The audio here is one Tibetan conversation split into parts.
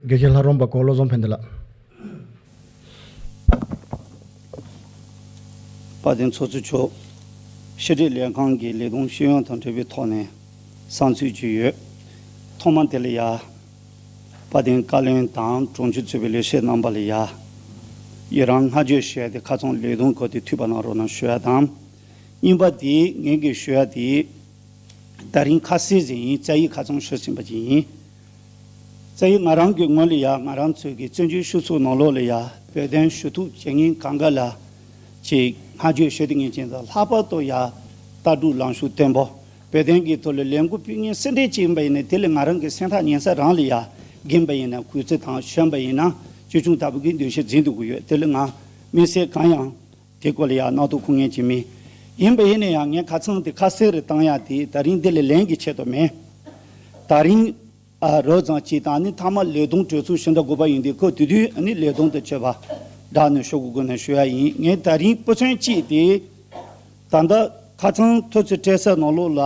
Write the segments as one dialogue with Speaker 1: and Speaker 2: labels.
Speaker 1: དགེ་བཤེས་ལྷ་རོང་པ་གོ་བློ་བཟང་ཕན་བདེ་ལགས། དཔའ་
Speaker 2: བརྟན་ཚོགས་གཙོ་མཆོག་ཕྱི་དྲིལ་ལས་ཁང་གི་ལས་དོན་ཤེས་ཡོན་དང་འབྲེལ་བའི་ཐོག་ནས་བསམ་ཚུལ་བརྗོད་ཡོད། ཐོག་མ་དེ་ལ་ཡ། དཔའ་བརྟན་བཀའ་བློན་དང་དྲུང་ཆེ་གཙོས་པའི་ལས་བྱེད་རྣམ་པ་ལ་ཡ། ཡི་རང་བསྔགས་བརྗོད་བྱས་ཏེ་ཁ་ཚོན་ལས་དོན་གོ་དེ་འཐུས་པ་གནང་རོགས་གནང་ཞུ་ཡ་དང། གཉིས་པ་དེ་ངེད་ཀྱིས་ཞུ་ཡ་དེ། ད་རིང་ཁ་གསལ་ཟིན་ཡིན་རྩ་ཡིག་ཁ་ཚོན་ཞུ་ཟིན་པ་ཅིག་ཡིན། རྩ་ཡིག་ང་རང་གི་ངོས་ལ་ཡ་ང་རང་ཚོས་ཀྱི་བཙན་བྱོལ་ཤུགས་ཚུགས་ནང་ལོགས་ལ་ཡ་བོད་དོན་ཞུ་ཐུབ་བྱེད་ངེས་གང་ག་ལ་ཅིག་སྔ་བརྗོད་ཞུ་དེ་ངེས་ཅན་དང་ལྷག་པར་དུ་ཡ་ལྟ་གྲུབ་ལངས་ཤུགས་བརྟན་པོ་བོད་དོན་གྱི་ཐོག་ལ་ལས་འགུལ་སྤེལ་ངེས་སེམས་ཁྲལ་ཅིག་ཡིན་པ་ཡིན་ན་དེ་ལ་ང་རང་གི་སེམས་ཐག་ཉེ་ས་རང་ལ་ཡ་རྒན་པ་ཡིན་ན་གུས་བརྩི་དང་གཞོན་པ་ཡིན་ན་ཅོལ་ཆུང་ལྟ་བུ་གྱི་འདུ་ཤེས་འཛིན་དུ་དགོས་ཡོད་དེ་ལ་ང་དམིགས་བསལ་གང་ཡང། དེ་སྐོར་ལ་ཡང་རྣག་ཐུག་ཁུག་ངེས་ཀྱི་མི་ཡིན་པ་ཡིན་ན་ཡང་ངས་ཁ་ཚང་དེ་ཁ་གསལ་རེ་བཏང་ཡག་དེ་ད་རིང་དེ་ལས་ལན་གྱི་ཆེད་དུ་མེད། ད་རིང། རོལ་རྩང་སྤྱི་དང་ནི་མཐའ་མ་ལས་སྡོང་གྲོས་ཚོགས་ཞི་འདྲ་དགོས་པ་ཡིན་དུས་ཁོས་དུས་དུས་ནི་ལས་སྡོང་དུ་བཅོས་པ་འདྲ་ནི་ཤོག་གུ་དགོས་ན་ཞུ་ཡག་ཡིན་ངས་ད་རིང་སྤུ་ཚོན་གཅིག་དེ་ད་ལྟ་ཁ་ཚང་ཐོས་ཚོད་སྤྲད་སའི་ནང་ལོགས་ལ་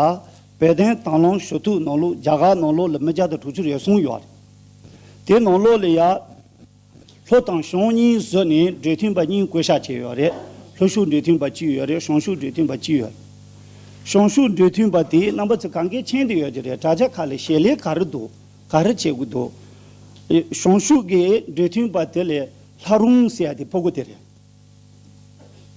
Speaker 2: བོད་བསྟན་དང་བླངས་ཞུ་ཐུག་ནང་ལོགས་རྒྱ་གར་ནང་ལོགས་ལ་མི་བརྒྱ་དང་དྲུག་ཅུ་རེ་ཟུང་ཡོད། དེ་ནང་ལོགས་ལ་ཡང། ལྷོ་དང་གཞོང་གཉིས་བཟོས་ནས་འབྲེལ་མཐུན་པ་གཉིས་བསྐོ་བཞག་བྱས་ཡོད་རེད། ལྷོ་ཤུགས་འབྲེལ་མཐུན་པ་གཅིག་ཡོད་རེད་གཞོང་ཤུགས་འབྲེལ་མཐུན་པ་གཅིག་ཡོད་རེད། གཞོང་ཤུགས་འབྲེལ་མཐུན་པ་དེའི་རྣམ་པ་ཚོ་གང་གཱའི་ཆེན་དུ་ཡོད་ཀྱི་རེད་དྲ་རྒྱ་ཁག་ལས་ཞལ་ལས་ག་རེ་འདུག་ག་རེ་བྱེད་དགོས་འདུག་གཞོང་ཤུགས་ཀྱི་འབྲེལ་མཐུན་པ་དེ་ལས་ལྷ་རུང་ཟེར་དེ་ཕོ་རྒོད་དེ་རེད།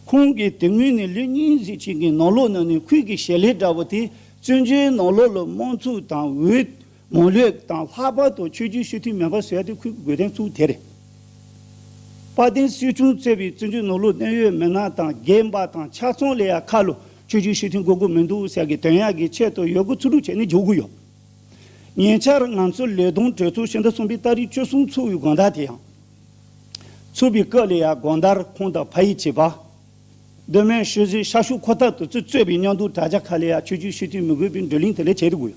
Speaker 2: ཁོང་གིས་དེ་སྔོན་ནས་ལོ་གཉིས་གཟིགས་ཆེན་གྱི་ནོར་ལོག་ནང་ནས་ཁུལ་གྱི་ཞལ་ལས་འདྲ་བོ་དེ་བཙོན་བྱོལ་ནོར་ལོག་ལ་དམངས་ཚུགས་དང་འོས་ངོ་ལེགས་དང་ལྷག་པར་དུ་ཆོས་རྒྱུན་ཞུ་མཐུན་མེད་པར་ཟད་དུ་འཁུལ་དགོས་དོན་གཙོ་བོ་དེ་རེད། དཔལ་ལྡན་སྲིད་སྐྱོང་བརྩེ་བའི་བཙོན་འཇུག་ནོར་ལུག་གནད་ཡོད་མི་སྣ་དང་རྒན་པ་དང་ཕྱག་ཚོང་ལས་ཡག་ཁ་ལོ་ཆོས་རྒྱུན་ཞུ་མཐུན་དགོས་དགོས་མི་འདུག་ཟེར་གི་དོན་ཡག་གི་ཆེད་དུ་ཡོད་དགུ་ཚུར་སྒྲུག་བྱས་ནས་འཇོག་གི་ཡོད། ཉེ་ཆར་ང་ཚོ་ལས་དོན་གྲོས་ཚོགས་ཕྱི་ཟླ་གསུམ་པའི་སྟ་རིས་བཅུ་གསུམ་ཚུགས་ཡོད་དགོངས་དག་དེ་ཡང། ཚུགས་པའི་སྐབས་ལས་ཡག་དགོངས་དག་ཁོང་དང་ཕ་ཡིས་བྱས་པ། གདོད་མའི་ཤུལ་གཟིགས་ཤར་ཤུགས་ཁོ་ཐག་ཏུ་བཙུད་རྩོད་པའི་སྙང་སྡུག་དྲ་རྒྱ་ཁ་ལས་ཡར་ཆོད་རྒྱུའི་ཤུགས་རྐྱེན་མི་དགོས་པའི་འགྲོ་གླིང་དེ་ལས་བྱེད་དུ་དགོས།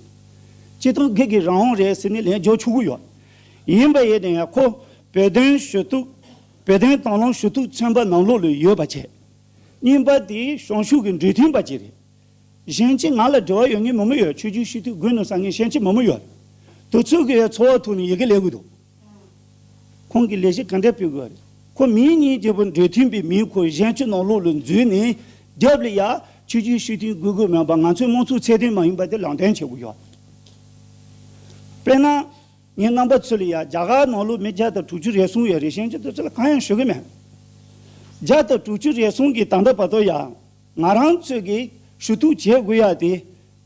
Speaker 2: སྤྱི་སྟོང་སྒེར་གྱི་རང་དབང་རེད་ཟེར་ནས་ལན་རྒྱོགས་ཆོག་གི་ཡོད། ཡིན་པ་ཡིན་ནའང་ཁོ་བོད་དོན་ཞུ་གཏུག། བོད་དོན་དང་བླངས་ཞུ་གཏུག་ཚན་པ་ནང་ལོགས་ལོས་ཡོད་པ་བྱས། གཉིས་པ་དེ་ཞང་ཞུང་གི་འབྲུ་མཐུན་པ་གཅིག་རེད། གཞན་གཅིག་ང་ལ་འབྲེལ་བ་ཡོད་ངེས་མི་མི་ཡོད་ཆོད་རྒྱུའི་ཤུགས་རྐྱེན་དགོས་ནུས་ཟ་ངེས་ཤེས་ཆེད་མི་མི་ཡོད་དུ་ཚུད་དགོས་ཡོད་འཚོ་བ་ཐུག་ནས་ཡི་གེ་ལས་དགོས་འདུག། ཁོང་གིས་ལས་གཞི་ག་འདྲ་སྤེལ་དགོས་རེད། ཁོ་མིང་གཉིས་རྒྱལ་པོ་འདོད་མཐུན་པའི་མིང་ཁོ་གཞན་ཆུ་ནང་ལུག་ལ་འཛུལ་ནས་རྒྱབ་ལ་ཡར་ཆུ་རྒྱུན་ཤུལ་མཐུན་དགོས་དགོས་མིན་པ་ང་ཚོའི་དམངས་གཙོའི་ཚད་ལྡན་མ་ཡིན་པ་དེ་ལག་འདེམས་བྱེད་དགོས་ཡོད། དཔེར་ན། ངའི་རྣམ་པ་ཚོས་ལ་ཡར་རྒྱ་གར་ནང་ལུག་མི་བརྒྱ་དང་དྲུག་ཅུ་རེ་ཟུང་ཡོད་རེད་གཞན་གྱི་དོན་ཚོད་ལ་གང་ཡང་ཞུ་གི་མེད། བརྒྱ་དང་དྲུག་ཅུ་རེ་ཟུང་གི་ད་ལྟ་བར་དུ་ཡང་ང་རང་ཚོས་ཀྱིས་ཞུ་གཏུག་བྱེད་དགོས་ཡ་དེ་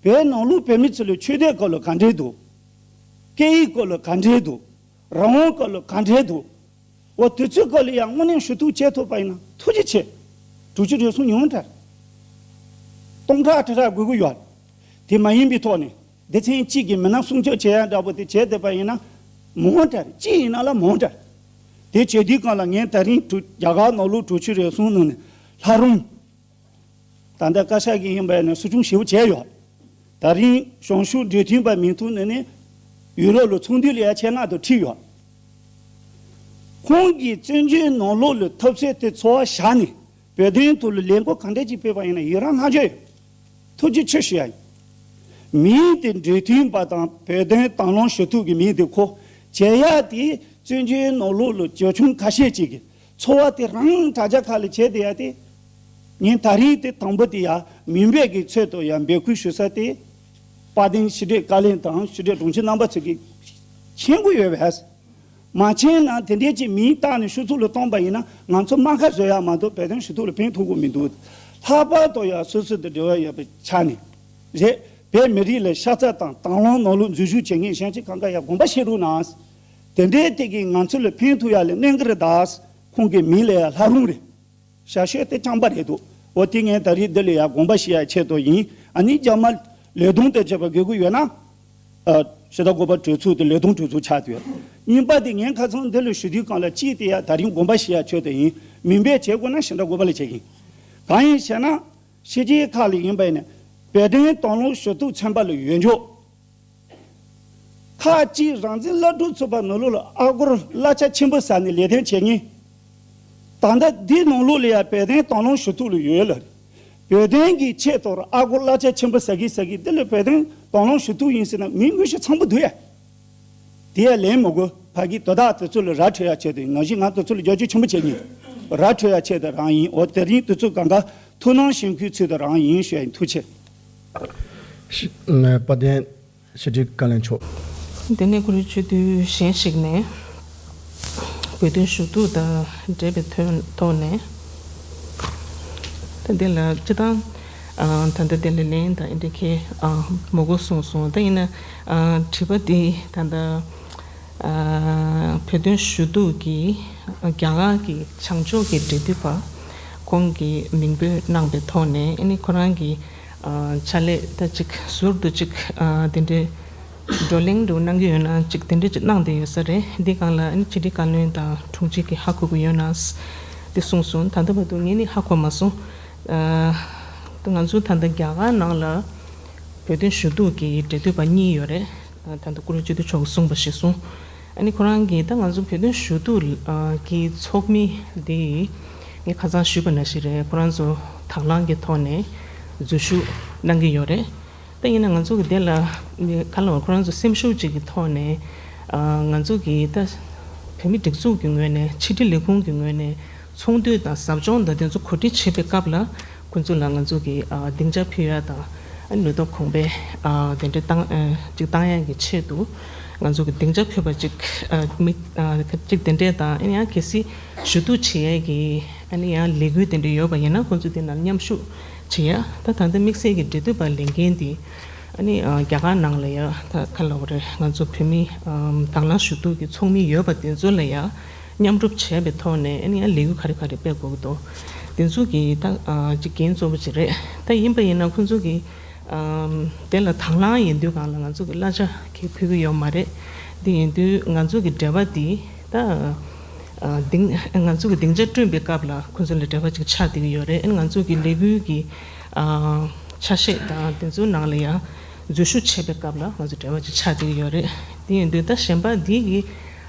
Speaker 2: བོད་ནང་ལུག་བོད་མི་ཚོས་ལ་ཆོས་དད་སྐོར་ལ་ག་འདྲའི་སྡུག་སྐད་ཡིག་སྐོར་ལ་ག་འདྲའི་འདུག་རང་དབང་སྐོར་ལ་ག་འདྲའི་འདུག་འོ་དེ་ཚོའི་སྐོར་ལ་ཡང་དངོས་གནས་ཞུ་གཏུག་བྱས་ཐུབ་པ་ཡིན་ན་ཐུགས་རྗེ་ཆེ། དྲུག་ཅུ་རེ་ཟུང་ཉུང་མཐར་སྟོང་ཕྲག་ཁྲི་ཕྲག་དགོས་ཀྱི་ཡོད། དེ་མ་ཡིན་པའི་ཐོག་ནས་སྡེ་ཚན་གཅིག་གི་མི་སྣ་སྲུང་སྐྱོབ་བྱེད་ཡ་འདྲ་པོ་དེ་བྱས་ཐུབ་པ་ཡིན་ན་མང་མཐར་གཅིག་ཡིན་ན་ལ་མང་མཐར། དེ་བྱེད་དུས་གང་ལ་ངས་ད་རིང་དྲུག་རྒྱ་གར་ནོར་ལུག་དྲུག་ཅུ་རེ་ཟུང་ནང་ནས་ལྷ་རུང། ད་ལྟ་བཀའ་ཤག་གིས་ཡིན་པ་ནས་གསོ་སྐྱོང་ཞེ་བོ་བྱས་ཡོད། ད་རིང་གཞུང་ཞུགས་འབྲེལ་མཐུད་པ་མིང་ཐོ་ནས་ནི། ཡུ་རོབ་ལ་ཚོང་འདུས་ལ་ཡ་ཆེ་ལྔ་དང་ཁྲི་ཡོད། ཁོང་གིས་བཙན་བྱོལ་ནང་ལོག་ལུས་ཐབས་ཟད་དེ་འཚོ་བ་བཞག་ནས་བོད་དོན་ཐོག་ལ་ལས་འགུལ་གང་འདྲ་ཅིག་སྤེལ་པ་ཡིན་ན་ཡི་རང་བསྔགས་བརྗོད་ཡོད། ཐུགས་རྗེ་ཆེ་ཞུ་ཡ་ཡིན། མིང་དེ་འབྲེལ་མཐུད་པ་དང་བོད་དོན་དྭང་བླངས་ཞུ་ཐུབ་ཀྱི་མིང་དེ་གོ། བྱས་ཡ་དེས་བཙན་བྱོལ་ནང་ལོག་ལུས་ཅོལ་ཆུང་ཁ་ཤས་ཅིག་གིས་འཚོ་བ་དེ་རང་དྲ་རྒྱ་ཁག་ལས་བྱེད་དེ་ཡ་དེ། ངས་ད་རིང་དེ་དང་པོ་དེ་ཡ་མིན་པའི་གི་ཚོད་དུ་ཡ་འབད་ཁུལ་ཞུ་ས་དེ། དཔའ་གདེང་ཕྱི་དྲིལ་བཀའ་ལན་དང་ཕྱི་དྲིལ་དྲུང་ཆེ་རྣམ་པ་ཚོས་གི་མཁྱེན་དགོས་ཡོད་བས། མ་མཁྱེན་ན་དེ་འདྲའི་གི་མིང་བཏགས་ནས་ཤུགས་ཚུགས་ལ་བཏོན་པ་ཡིན་ན་ང་ཚོ་རྨ་ཁ་བཟོས་ཡ་མ་གཏོགས་བོད་དོན་ཞུ་གཏུག་ལ་ཕན་ཐོག་གོ་མི་འདུག་ལྷག་པར་དུ་ཡ་སོ་སོ་དང་འབྲེལ་བ་ཡོད་པའི་ཆ་ནས་རེད། བོད་མི་རིགས་ལ་ཤ་ཚ་དང་དང་བླངས་ནོར་ལུག་འཛུལ་ཞུགས་བྱེད་མཁན་གཞན་གྱི་གང་ག་ཡ་དགོངས་པ་བཞེས་རུང་ན། དེ་འདྲའི་སྟེགས་ཀྱིས་ང་ཚོ་ལ་ཕན་ཐོགས་ཡག་ལས་གནས་འགར་གདའ། ཁོང་གི་མིང་ལ་ཡང་ལྷ་རུང་རེད། ཞར་བཤད་དེ་སྤྱང་པ་རེད་འདུག་འོ་དེ་ངས་ད་རེས་འདི་ལས་ཡག་དགོངས་པ་ཞིག་ཡང་འཆད་དོ་ཡིན་ཨ་ནི་རྒྱ་དམར་ལས་དུང་དེ་བྱས་པ་དགོས་གི་ཡོད་ན། ཞེ་ད་གོ་པ་གྲོས་ཚུགས་དེ་ལས་དུང་གྲོས་ཚུགས་ཆགས་ཏེ་ཡོད། གཉིས་པ་དེ་ངས་ཁ་ཚང་འདི་ལ་ཞུ་དུས་གང་ལ་ཅིས་དེ་ཡང་ད་རེས་དགོངས་པ་ཞིག་ཡང་འཆོད་དོ་ཡིན་མིན་པས་བྱེད་དགོས་ན་ཞེ་ད་གོ་པ་ལ་བྱེད་གིན། གང་ཡིན་ཞེ་ན། ཕྱི་རྒྱལ་ཁག་ལ་ཡིན་པ་ཡིན་ནས། བལ་བསྟན་དང་ལོངས་ཞུ་གཏུགས་ཚན་པ་ལ་ཡོད་འཇོག། ཁག་གཅིག་རང་བཙན་བླ་སྤྲུལ་ཚོ་པ་ནོར་ལུག་ལ་ཨ་སྒོར་གླ་ཆ་ཆེན་པོ་ཟ་ནས་ལས་དོན་བྱེད་ངེས། ད་ལྟ་འདི་ནོར་ལུག་ལ་ཡང་བལ་བསྟན་དང་ལོངས་ཞུ་ཐུག་ལ་ཡོད་ལ། བོད་བསྟན་གྱི་ཆེད་དོར་ཨ་སྒོར་གླ་ཆ་ཆེན་པོ་ཟ་གི་ཟ་གི་འདི་ལ་བལ་བསྟན་དང་ལོངས་ཞུ་ཐུག་ཡིན་ཟེར་ན་མི་དངོས་གཞི་ཚང་པོ་འདུག་ཡ། དེ་ཡ་ལན་མི་དགོས་ཕ་གི་དོ་བདག་དེ་ཚོ་ལ་ར་འཕྲོད་ཡ་བྱས་ཏེ་ང་བཞིན་ང་དེ་ཚོ་ལ་རྒྱབ་སྐྱོར་ཆེན་པོ་བྱེད་ངེས། ར་འཕྲོད་ཡ་བྱས་ཏེ་རང་ཡིན་འོ་དེ་རིང་དེ་ཚོ་གང་ག་ཐུག་སྣང་ཞེན་ཁུལ་ཚུལ་དུ་རང་ཡིན་ཞོད་ཡིན་ཐུག་ཆེ།
Speaker 1: དཔལ་ལྡན་ཞི་ཁྲིའི་བཀའ་ལན་མཆོག། དེ་ནས་གུ་
Speaker 3: རུའི་ཆོས་བསྡུས་གཞན་ཞིག་ནས། བོད་དོན་ཞུ་གཏུག་དང་འབྲེལ་བའི་ཐོག་ནས། ད་ལྟའི་ལ་སྤྱི་དང། ད་ལྟ་དེ་ལས་ལན་དང་ཨིནྡྲ་ཁའི་མོ་གོ་གསུངས་སོང་ད་ཡིན་ན། དྲི་བ་འདི་ད་ལྟ། བོད་དོན་ཞུ་གཏུག་གིས་རྒྱ་གར་གྱི་བྱང་ཕྱོགས་ཀྱི་འབྲེལ་མཐུད་པ། ཁོང་གིས་མིང་འབོད་གནང་པའི་ཐོག་ནས་ཨེ་ནི་ཁོ་རང་གི་ཕྱག་ལས་ད་ཅིག་ཟུར་དུ་ཅིག་དེ་འདྲའི་བགྲོ་གླེང་འདུག་གནང་གི་ཡོད་ན་ཅིག་དེ་འདྲ་ཅིག་གནང་བསྡད་ཡོད་ས་རེད་འདི་གང་ལ་ཨེ་ནི་སྤྱི་བདེ་བཀའ་བློན་དང་དྲུང་ཆེ་གི་ཧ་གོ་གི་ཡོད་ན་དེ་གསུངས་སོང་ད་ལྟ་བར་དུ་ངས་ནི་ཧ་གོ་མ་སོང་ད་ང་ཚོ་ད་ལྟ་རྒྱ་གར་ནང་ལ་བོད་དོན་ཞུ་གཏུག་གི་འབྲེལ་མཐུད་པ་གཉིས་ཡོད་རེད་ད་ལྟ་ཀུ་རེ་ཅི་ཐུབ་ཆོག་གི་གསུངས་པ་ཞིག་སོང། ཨ་ནི་ཁོ་རང་གིས་ད་ང་ཚོ་བོད་དོན་ཞུ་གཏུག་གི་ཚོགས་མི་འདི་ངས་ཁ་ཚང་ཞུས་པ་ན་ཞིག་རེད་ཁོ་རང་ཚོ་དྭགས་ལང་གི་ཐོག་ནས་འཛུལ་ཞུགས་གནང་གི་ཡོད་རེད་ད་ཡིན་ན་ང་ཚོ་གི་དེ་ལ་ག་ལ་བ་ཁོ་རང་ཚོ་སེམས་ཤུགས་གཅིག་གི་ཐོག་ནས་ང་ཚོ་གི་ད་བོད་མི་སྒྲིག་འཛུགས་ཀྱི་ངོས་ནས་ཕྱི་དྲིལ་ལས་ཁུངས་ཀྱི་ངོས་ནས་ཚོང་དུད་དང་ཟབ་སྦྱོང་ཟླ་དེ་ཚོ་གོ་སྒྲིག་བྱེད་པའི་སྐབས་ལ་ཁོ་ཚོ་ལ་ང་ཚོ་གིས་སྡིངས་ཆ་ཕུལ་ཡ་དང། ལུས་སྟོབས་གོང་སྤེལ་དེ་འདྲ་གཏང་ཅིག་གཏང་ཡ་གི་ཆེད་དུ་ང་ཚོ་གིས་སྡིངས་ཆ་ཕུལ་བ་ཅིག་ཅིག་དེ་འདྲས་དང་ཡང་གལ་སྲིད་ཞུ་གཏུག་བྱེད་ཡ་གི་ཡང་ལས་འགུལ་དེ་འདྲས་ཡོད་པ་ཡིན་ན་ཁོ་ཚོ་དེ་ནང་མཉམ་ཞུགས་བྱེད་ཡ་ད་ད་ལྟ་དམིགས་བསལ་གྱི་འབྲེལ་མཐུད་པ་ལས་འགན་དེ་རྒྱ་གར་ནང་ལ་ཡ་ད་ག་ལ་བ་རེད་ང་ཚོ་བོད་མི་དྭང་བླངས་ཞུ་གཏུག་གི་ཚོགས་མི་ཡོད་པ་དེ་ཚོ་ལ་ཡ། མཉམ་སྒྲུབ་བྱས་པའི་ཐོག་ནས་ཡང་ལས་འགུལ་ག་རེ་ག་རེ་སྤེལ་དགོས་ཀྱི་འདུག་དེ་ཚོ་གི་ད་འགན་གཙོ་བོ་ཅིག་རེད་ད་ཡིན་པ་ཡིན་ན་ཁོང་ཚོ་གི་དེ་ལ་དང་བླང་ཡིན་དུས་གང་ལ་ང་ཚོ་གི་གླ་ཆ་གི་ཕུལ་གྱི་ཡོད་མ་རེད་དེ་ཡིན་དུས་ང་ཚོ་གི་འབྲེལ་བ་དེ་ད་དེང་ང་ཚོ་གི་སྡིངས་ཆ་བསྐྲུན་པའི་སྐབས་ལ་ཁོང་ཚོ་ལ་འབྲེལ་བ་ཅིག་ཆགས་བསྡད་ཀྱི་ཡོད་རེད་ང་ཚོ་གི་ལས་འགུལ་གི་ཆ་ཤས་དང་དེ་ཚོའི་ནང་ལ་ཡང་འཛུལ་ཞུགས་བྱས་པའི་སྐབས་ལ་ང་ཚོ་འབྲེལ་བ་ཅིག་ཆགས་བསྡད་ཀྱི་ཡོད་རེད་དེ་ཡིན་དུས་ད་གཞན་པ་དེ་གི་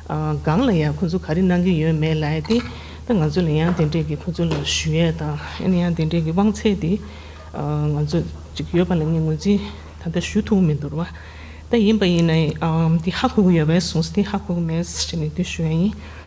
Speaker 3: སྒང་ལ་ཡང་ཁོང་ཚོ་ག་རེ་གནང་གི་ཡོད་མེད་ལ་ཡ་དེ་ད་ང་ཚོ་ལ་ཡང་དེ་འདྲས་ཀྱི་ཁོང་ཚོ་ལ་ཞུ་ཡས་དང་ཨ་ནི་ཡང་དེ་འདྲས་ཀྱི་དབང་ཚད་དེ་ང་ཚོ་ཅིག་ཡོད་པ་ལ་ངས་ངོས་འཛིན་ད་ལྟ་ཞུ་ཐུབ་མི་འདུག་ད་ཡིན་པ་ཡིན་ན་དེ་ཧ་གོ་གི་ཡོད་པས་སོང་ཟེར་དེ་ཧ་གོ་གི་མེད་ཟེར་ནས་དེ་ཞུ་ཡ་ཡིན།